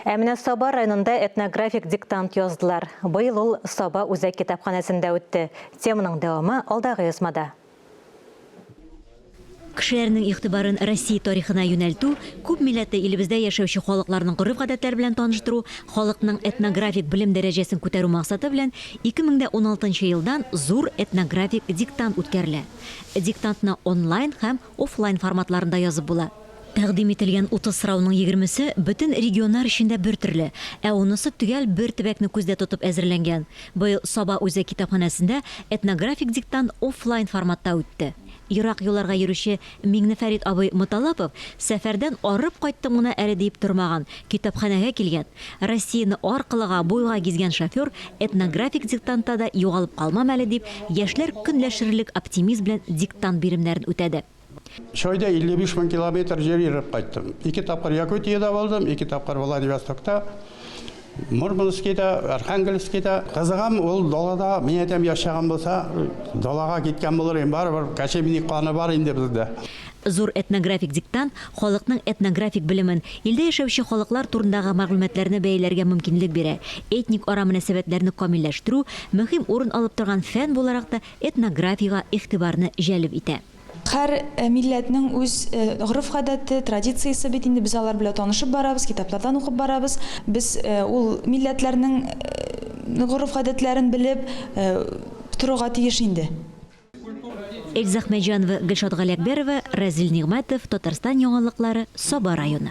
Ә менә Саба районында этнографик диктант яздылар. Быел ул Саба үзәк китапханәсендә үтте. Теманың дәвамы алдагы язмада. Кешеләрнең игътибарын Россия тарихына юнәлтү, күп милләтле илебездә яшәүче халыкларның гореф-гадәтләре белән таныштыру, халыкның этнографик белем дәрәҗәсен күтәрү максаты белән 2016 елдан зур этнографик диктант үткәрелә. Диктантны онлайн һәм офлайн форматларында язып була. Тәкъдим ителгән 30 сорауның егермесе бөтен регионнар өчен дә бертөрле, ә унысы төгәл бер төбәкне күздә тотып әзерләнгән. Быел Саба үзәк китапханәсендә этнографик диктант оффлайн форматта үтте. Ерак юлларга йөрүче Миңнефәрит абый Моталапов сәфәрдән арып кайттым гына әле диеп тормаган, китапханәгә килгән. Россияне аркылыга, буйга гизгән шофер этнографик диктантта да югалып калмам әле дип, яшьләр көнләшерлек оптимизм белән диктант биремнәрен үтәде. Чойда 55 мең километр җир йөреп кайттым. Ике тапкыр Якутиядә булдым, ике тапкыр Владивостокта, Мурманскида, Архангельскида. Кызыгам ул далада мин әйтәм яшәгән булса, далага киткән булыр идем, барыбер кәчемни каны бар инде бездә. Зур этнографик диктант халыкның этнографик белемен, илдә яшәүче халыклар турындагы мәгълүматларны бәяләргә мөмкинлек бирә, этник-ара мөнәсәбәтләрне камилләштерү мөһим урын алып торган фән буларак та этнографиягә игътибарны җәлеп итә. Һәр милләтнең үз гореф-гадәте, традициясе бит инде, без алар белән танышып барабыз, китаплардан укып барабыз. Без ул милләтләрнең гореф-гадәтләрен белеп торырга тиеш инде. Эльза Әхмәтҗанова, Гөлшат Галиәкбәрова, Разил Нигъмәтов, Татарстан яңалыклары, Саба районы.